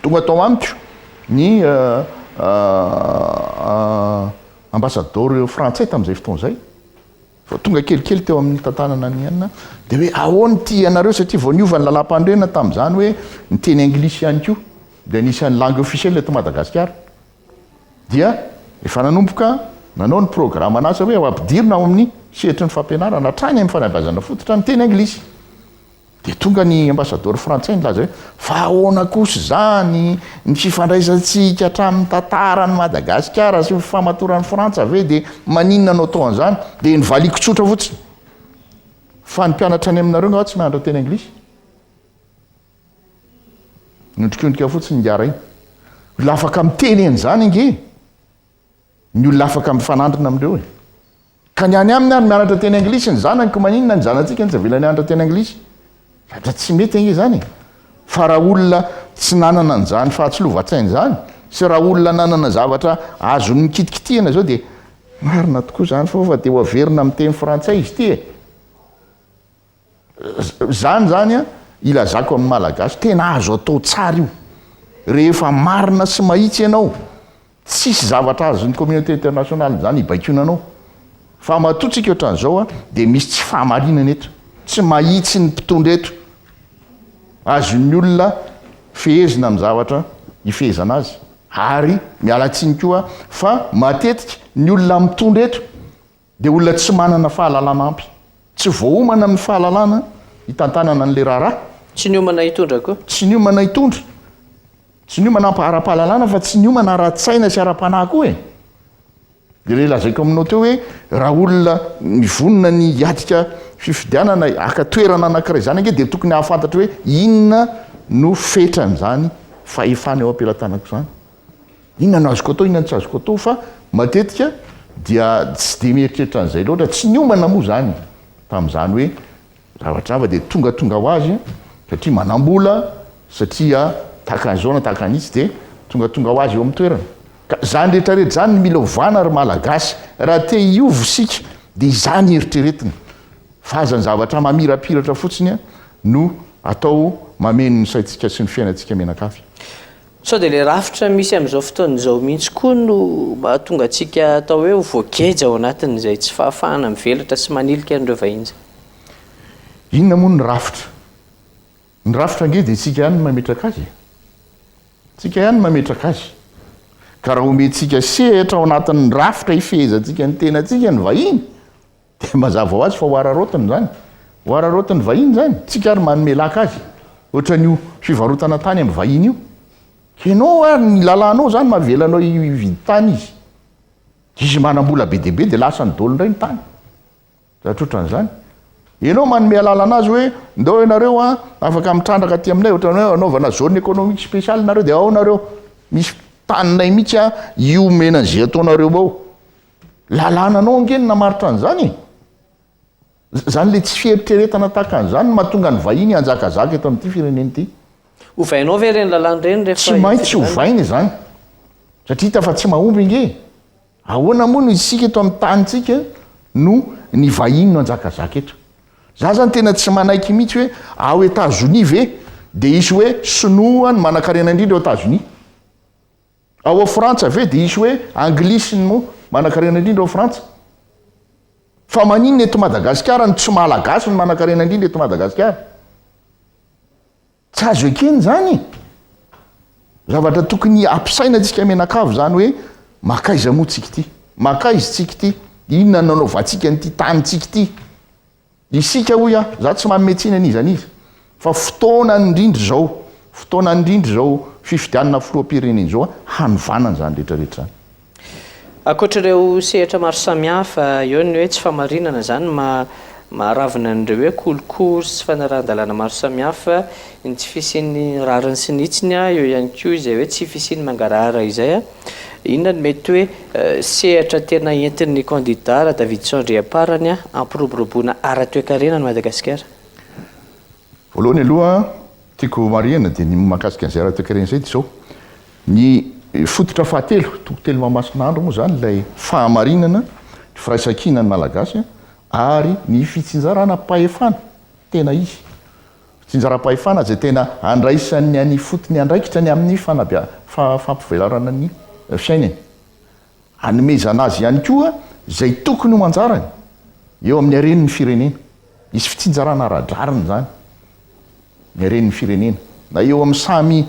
tonga tao amiko ny ambasadaoro frantsay tamin'izay fotoana izay, vao tonga kelikely teo amin'ny tantanana an'i Ina, dia hoe ahoana ity ianareo satria vao niova ny lalàmpanorenana tamin'izany hoe miteny anglisy ihany koa, dia anisan'ny langue officielle eto Madagasikara. dia efa nanomboka nanao ny programan'asa hoe ho ampidirina ao amin'ny sehatry ny fampianarana hatrany amin'ny fanabeazana fototra ny teny anglisy. Dia tonga ny ambasadaoro frantsay nilaza hoe fa ahoana kosa izany ny fifandraisantsika hatramin'ny tantaran'i Madagasikara sy ny fifahamatoran'i Frantsa ve dia maninona no atao an'izany? Dia nivaliako tsotra fotsiny fa ny mpianatra any aminareo angaha tsy mahay manao teny anglisy? Miondrikondrika fotsiny ingahy Ray. Olona afaka miteny an'izany ange ny olona afaka mifanandrina amin'ireo e. Ka ny any aminy ary mianatra teny anglisy ny zanako maninona ny zanatsika no tsy avela nianatra teny anglisy? Fa tsy mety ange izany e. Fa raha olona tsy nanana an'izany fahatsilovan-tsaina izany sy raha olona nanana zavatra azony nikitikitihina izao dia marina tokoa izany fa fa dia ho averina miteny frantsay izy ity e. Zany zany ilazako amin'ny Malagasy tena azo atao tsara io rehefa marina sy mahitsy ianao tsisy zavatra azon'ny communauté internationale zany hibaikoana anao fa matoa tsika otran'izao dia misy tsy fahamarinana eto tsy mahitsy ny mpitondra eto azon'ny olona fehezina amin'ny zavatra hifehezana azy ary miala tsiny koa fa matetika ny olona mitondra eto dia olona tsy manana fahalalana ampy. Tsy voaomana amin'ny fahalalana hitantanana an'ilay raharaha. Tsy niomana hitondra koa. Tsy niomana hitondra. Tsy niomana ara-pahalalana fa tsy niomana ara-tsaina sy ara-panahy koa e. Dia ilay lazaiko aminao teo hoe raha olona mivonona ny hiatrika fifidianana haka toerana anankiray izany ange dia tokony hahafantatra hoe inona no fetran'izany fahefana eo am-pelatanako izany. Inona no azoko atao, inona no tsy azoko atao fa matetika dia tsy dia mieritreritra an'izay loatra, tsy niomana moa izany tamin'izany hoe zavatra hafa dia tongatonga ho azy satria manam-bola, satria tahaka an'izao na tahaka an'itsy dia tongatonga ho azy eo amin'ny toerana. Ka izany rehetra rehetra izany no mila ovana ry Malagasy raha te hiova isika dia izany eritreretina fa aza ny zavatra mamirapiratra fotsiny no atao mameno ny saintsika sy ny fiainantsika mianakavy. Sao dia ilay rafitra misy amin'izao fotoana izao mihitsy koa no mahatonga antsika atao hoe ho voageja ao anatin'izay tsy fahafahana mivelatra sy manilika an'ireo vahiny izay? Inona moa ny rafitra? Ny rafitra ange dia isika ihany no mametraka azy e! Isika ihany no mametraka azy. Ka raha omentsika sehatra ao anatin'ny rafitra hifehezantsika ny tenantsika ny vahiny, Dia mazava ho azy fa ho araraotiny izany. Ho araraotin'ny vahiny izany. Tsika ary manome laka azy. Ohatran'io fivarotana tany amin'ny vahiny io. Ianao ary ny lalànao izany mahavela anao hividy tany izy. Izy manam-bola be dia be dia lasan'ny dolo indray ny tany. Zavatra ohatran'izany. Ianao manome alalana azy hoe ndao ianareo an, afaka mitrandraka aty aminay, ohatran'ny hoe anaovana zone économique spéciale nareo dia ao nareo. Misy taninay mihitsy an, io omena an'izay ataonareo ao. Lalànanao ange no namaritra an'izany e! Izany ilay tsy fieritreretana tahaka an'izany no mahatonga ny vahiny hanjakazaka eto amin'ity firenena ity. Ovainao ve ireny lalàna ireny rehefa hifidianana? Tsy maintsy ovaina izany, satria hita fa tsy mahomby ange e! Ahoana moa no isika eto amin'ny tanintsika no ny vahiny no hanjakazaka eto? Za zany tena tsy manaiky mihitsy hoe ao Etazonia ve dia hisy hoe sinoa no manankarena indrindra ao Etazonia? Ao a Frantsa ve dia hisy hoe Anglisy no manankarena indrindra ao Frantsa? Fa maninona eto Madagasikara ny tsy Malagasy no manankarena indrindra eto Madagasikara? Tsy azo ekena izany e! Zavatra tokony hampisaina antsika mianakavy izany hoe mankaiza moa tsika ity? Mankaiza tsika ity? Inona no nanaovantsika an'ity tanintsika ity? Isika hoy aho, za tsy manome tsiny an'iza n'iza fa fotoana indrindra izao, fotoana indrindra izao fifidianana filoham-pirenena izao hanovana an'izany rehetra rehetra izany. Ankoatra ireo sehatra maro samihafa, eo ny hoe tsy fahamarinana izany maharavona an'ireo hoe kolikoly sy tsy fanarahan-dalàna maro samihafa, ny tsy fisian'ny rariny sy ny hitsiny, eo ihany koa izay hoe tsy fisian'ny mangarahara izay. Inona no mety hoe sehatra tena entin'ny kandida Radavidison Andriamparany hampiroboroboana ara-toekarena an'i Madagasikara? Voalohany aloha tiako homarihina dia ny mahakasika an'izay ara-toekarena izay dia izao, ny fototra fahatelo, toko telo Mahamasinaandro moa izany ilay fahamarinana ny firaisankinan'ny Malagasy ary ny fitsinjarana am-pahefana tena izy. Tsinjaram-pahefana izay tena handraisany any ifotony andraikitra ny amin'ny fampivelarana ny fiainany. Hanomezana azy ihany koa izay tokony ho anjarany eo amin'ny haren'ny firenena. Hisy fitsinjarana ara-drariny izany ny haren'ny firenena, na eo amin'ny samy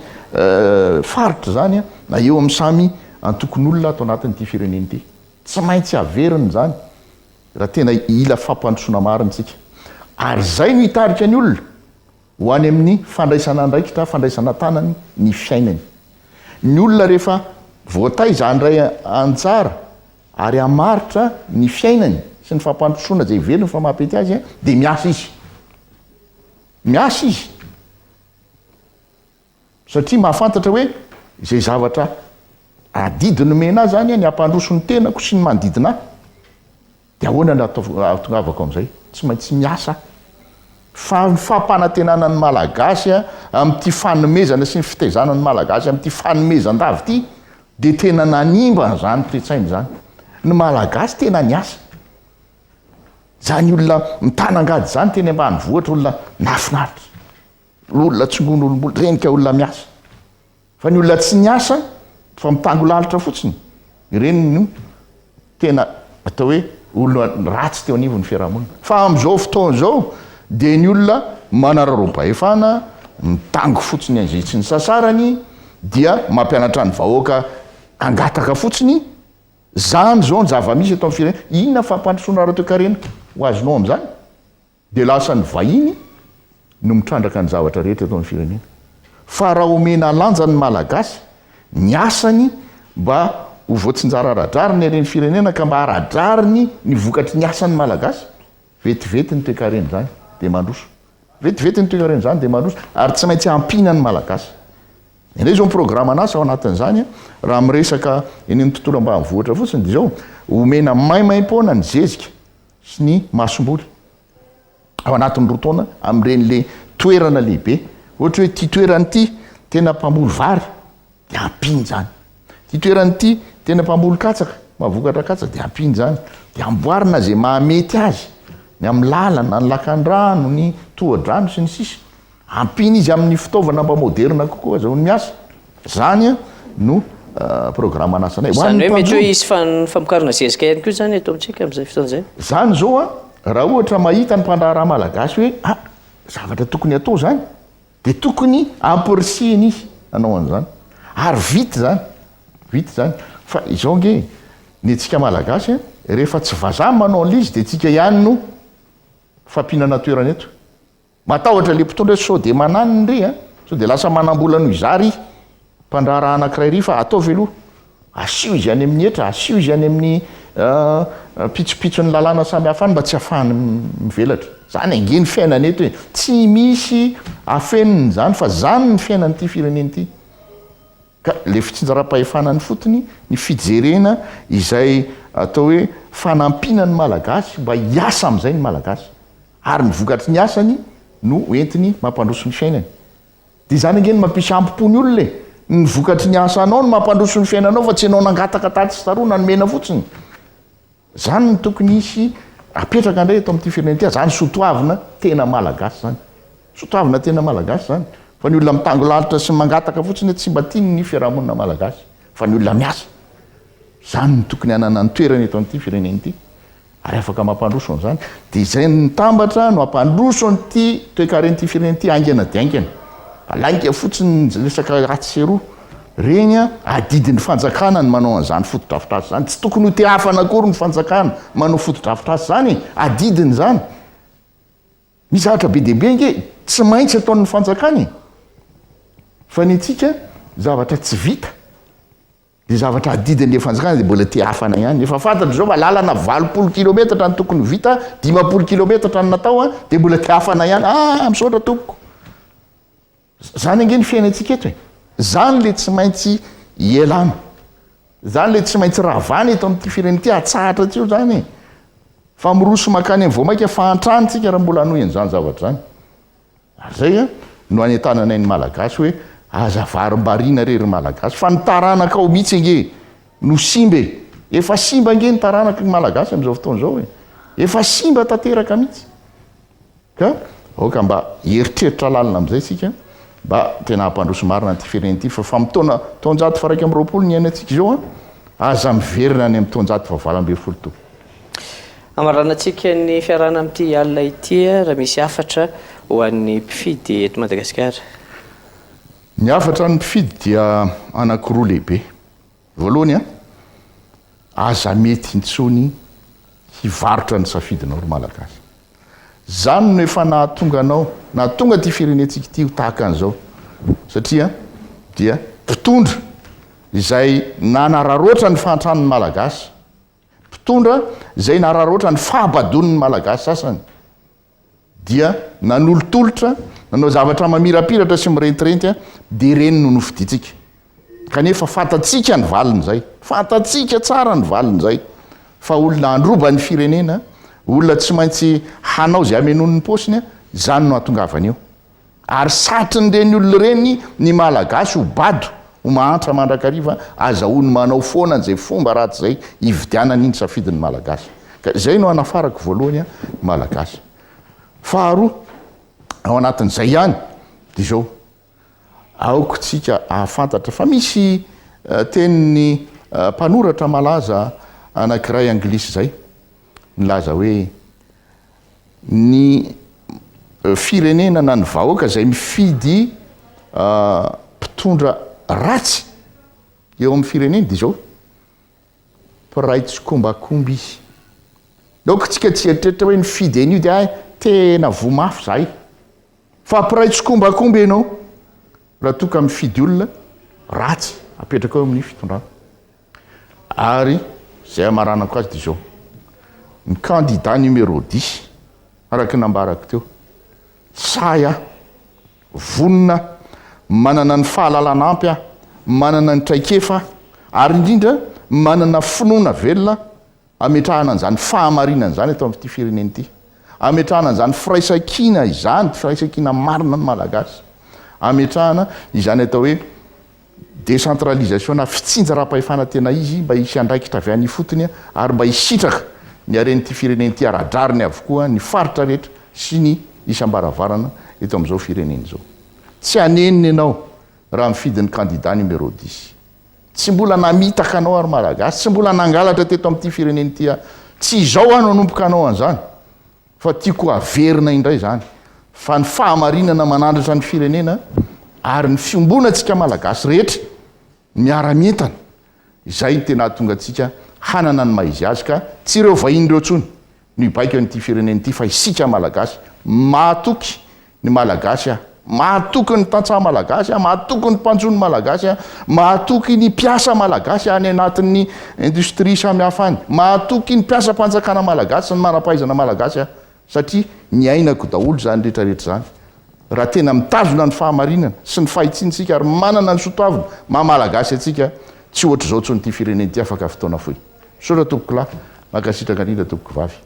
faritra izany, na eo amin'ny samy antokon'olona ato anatin'ity firenena ity. Tsy maintsy haverina izany. Raha tena hila fampandrosoana marina isika, ary izay no hitarika ny olona ho any amin'ny fandraisana andraikitra, fandraisana an-tanany ny fiainany. Ny olona rehefa voataiza handray anjara ary hamaritra ny fiainany sy ny fampandrosoana izay velony fa maha-pety azy dia miasa izy. Miasa izy. Satria mahafantatra hoe izay zavatra adidy nomena ahy izany ny hampandroso ny tenako sy ny manodidina ahy, dia ahoana ny hahatongavako amin'izay? Tsy maintsy miasa aho. Fa ny fampanantenana ny Malagasy amin'ity fanomezana sy ny fitaizana ny Malagasy amin'ity fanomezan-dava ity dia tena nanimba an'izany toe-tsaina izany. Ny Malagasy tena niasa. Izany olona mitana angady izany teny ambanivohitra, olona nahafinaritra. Olona tsy noho ny olom-bola, ireny ka olona miasa. Fa ny olona tsy niasa fa mitango lalitra fotsiny, ireny no tena atao hoe olona ratsy teo anivon'ny fiarahamonina. Fa amin'izao fotoana izao dia ny olona manararaom-pahefana, mitango fotsiny an'izay tsy nisasarany dia mampianatra ny vahoaka hangataka fotsiny, izany izao ny zava-misy eto amin'ny firenena. Inona fampandrosoana ara-toekarena ho azonao amin'izany? Dia lasa ny vahiny no mitrandraka ny zavatra rehetra eto amin'ny firenena. Fa raha omena lanja ny Malagasy, ny asany mba ho voatsinjara ara-drariny ery ny firenena ka mba ara-drariny ny vokatry ny asan'ny Malagasy, vetivety ny toekaren'izany dia mandroso. Vetivety ny toekaren'izany dia mandroso ary tsy maintsy ampiana ny Malagasy. Indray izao ny programan'asa ao anatin'izany, raha miresaka eny amin'ny tontolo ambanivohitra fotsiny dia izao, omena maimaim-poana ny zezika. sy ny masomboly ao anatin'ny roa taona amin'ireny le toerana lehibe ohatra hoe ity toerana ity tena mpamboly vary de ampiany zany ity toerana ity tena mpamboly katsaka mavokatra katsaka de ampiany zany de amboarina zay mahamety azy ny amin'ny lalana ny lakandrano ny tohadrano sy ny sisa Ampiana izy amin'ny fitaovana mba moderina kokoa azahoany miasa. Izany no programan'asanay. Ho an'ny mpandroba. Izany hoe mety hoe hisy famokarana zezika ihany koa izany eto amintsika amin'izay fotoana izay. Izany izao raha ohatra mahita ny mpandraharaha malagasy hoe ah, zavatra tokony hatao izany dia tokony ampirisihina izy hanao an'izany. Ary vita izany. Vita izany. Fa izao ange e, ny antsika malagasy rehefa tsy vazaha manao an'ilay izy dia antsika ihany no fampinana toerana eto. Matahotra le mpitondra sao de mananiny ry a! Sao de lasa manambola noho izaho ry mpandraharaha anakiray ry fa ataovy aloha! Asio izy any amin'ny hetra, asio izy any amin'ny pitsopitson'ny lalàna samy hafa any mba tsy hafahany mivelatra. Zany ange ny fiainana eto e! Tsy misy afenina izany fa zany ny fiainan'ity firenena ity. Ka ilay fitsinjaram-pahefana any fotony, ny fijerena izay atao hoe fanampiana ny Malagasy mba hiasa amin'izay ny Malagasy, ary ny vokatry ny asany no hoentiny mampandroso ny fiainany. Dia izany ange no mampisy hambo-po ny olona e! Ny vokatry ny asanao no mampandroso ny fiainanao fa tsy ianao nangataka tatsy sy taroa na nomena fotsiny. Zany no tokony hisy apetraka indray eto amin'ity firenena ity, zany sotoavina tena malagasy zany. Sotoavina tena malagasy zany. Fa ny olona mitango lalitra sy mangataka fotsiny eto tsy mba tiany ny fiarahamonina malagasy fa ny olona miasa. Zany no tokony hanana ny toerany eto amin'ity firenena ity ary afaka mampandroso an'izany. Dia izay mitambatra no hampandroso an'ity toekaren'ity firenena ity haingana dia haingana. Alainga fotsiny ny resaka atsy sy eroa. Reny an, adidin'ny fanjakana ny manao an'izany fotodrafitrasa izany. Tsy tokony ho tehafana akory ny fanjakana manao fotodrafitrasa izany e, adidiny izany. Misy zavatra be dia be ange tsy maintsy ataon'ny fanjakana e. Fa ny antsika zavatra tsy vita dia zavatra adidin'ilay fanjakana dia mbola tehafana ihany. Efa fantatry izao fa lalana valopolo kilometatra no tokony ho vita, dimampolo kilometatra no natao dia mbola tehafana ihany. Ah, misaotra tompoko. Zany ange ny fiainantsika eto e! Zany le tsy maintsy ialana, zany le tsy maintsy ravana eto amin'ity firenena ity, atsahatra tsy eo zany e! Fa miroso mankany amin'ny voamaika fahantrana tsika raha mbola hanohy an'izany zavatra zany. Ary zay a, no anentananay ny Malagasy hoe aza varimbariana re ry Malagasy fa ny taranakao mihitsy ange no simba e! Efa simba ange ny taranaky ny Malagasy amin'izao fotoana izao e! Efa simba tanteraka mihitsy. Ka aoka mba hieritreritra lalina amin'izay isika mba tena hampandroso marina an'ity firenena ity fa fa mitaona taonjato faha iraika amby roapolo ny iainantsika izao an! Aza miverina any amin'ny taonjato faha valo ambin'ny folo tompoko. Hamaranantsika ny fiarahana amin'ity alina ity raha misy hafatra ho an'ny mpifidy eto Madagasikara. Ny hafatra an'ny mpifidy dia anankiroa lehibe. Voalohany a, aza mety intsony hivarotra ny safidinao ry Malagasy. Zany no efa nahatonga anao, nahatonga ty firenentsika ty ho tahaka an'izao. Satria dia mpitondra izay nanararoatra ny fahantran'ny Malagasy, mpitondra izay nararaotra ny fahabadoan'ny Malagasy sasany. dia nanolotolotra, nanao zavatra mamirapiratra sy mirentirenty, dia ireny no nofidintsika. Kanefa fantatsika ny valin'izay, fantatsika tsara ny valin'izay, fa olona handroba ny firenena, olona tsy maintsy hanao izay hamenoany ny paosiny, izany no hahatongavany eo. Ary satrin'ireny olona ireny ny Malagasy ho bado, ho mahantra mandrakariva, azahoany manao foana izay fomba ratsy izay hividianany ny safidin'ny Malagasy. Ka izay no hanafarako voalohany an, ny Malagasy. Faharoa, ao anatin'izay ihany, dia izao, aoka isika hahafantatra fa misy tenin'ny mpanoratra malaza anankiray anglisy izay, nilaza hoe, Ny firenena na ny vahoaka izay mifidy mpitondra ratsy eo amin'ny fireneny dia izao, mpiray tsikombakomba izy. Naoka tsika tsy hieritreritra hoe nifidy an'io dia hay tena voa mafy zahay. Fa mpiray tsikombakomba ianao raha toa ka mifidy olona ratsy apetraka eo amin'ny fitondrana. Ary izay hamaranako azy dia izao, ny kandida numéro dix, araka ny nambarako teo, sahy aho, vonona aho, manana ny fahalalana ampy aho, manana ny traikefa aho, ary indrindra manana finoana velona aho, Ametrahana an'izany fahamarinana izany eto amin'ity firenena ity. Ametrahana an'izany firaisankina izany, firaisankina marina ny Malagasy. Ametrahana izany atao hoe décentralisation na fitsinjaram-pahefana tena izy mba hisy andraikitra avy any ifotony ary mba hisitraka ny haren'ity firenena ity ara-drariny avokoa ny faritra rehetra sy ny isam-baravarana eto amin'izao firenena izao. Tsy hanenina ianao raha mifidy ny kandida numéro dix. Tsy mbola namitaka anao ary Malagasy, tsy mbola nangalatra teto amin'ity firenena ity aho. Tsy izao aho no hanomboka hanao an'izany, fa tiako haverina indray izany, fa ny fahamarinana manandratra ny firenena ary ny fiombonantsika Malagasy rehetra miara-mientana, izay no tena hahatonga antsika hanana ny maha izy azy, ka tsy ireo vahiny ireo intsony no hibaiko an'ity firenena ity fa isika Malagasy mahatoky ny Malagasy aho, mahatoky ny tantsaha Malagasy aho, mahatoky ny mpanjono Malagasy aho, mahatoky ny mpiasa Malagasy any anatin'ny industrie samihafa any, mahatoky ny mpiasam-panjakana Malagasy sy ny manam-pahaizana Malagasy aho satria niainako daholo izany rehetrarehetra izany. Raha tena mitazona ny fahamarinana sy ny fahitsiana isika ary manana ny soatoavina maha-Malagasy antsika, tsy ohatr'izao intsony ity firenena ity afaka fotoana fohy. Misaotra tompoko lahy. Mankasitraka indrindra tompoko vavy.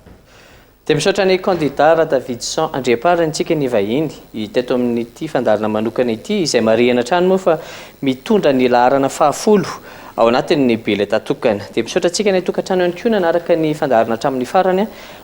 Dia misaotra ny kandida Radavidson Andriampaharintsika nivahiny teto amin'ity fandaharana manokana ity, izay marihina hatrany moa fa mitondra ny laharana fahafolo ao anatin'ny biletà tokana. Dia misaotra antsika any an-tokantrano ihany koa nanaraka ny fandaharana hatramin'ny farany,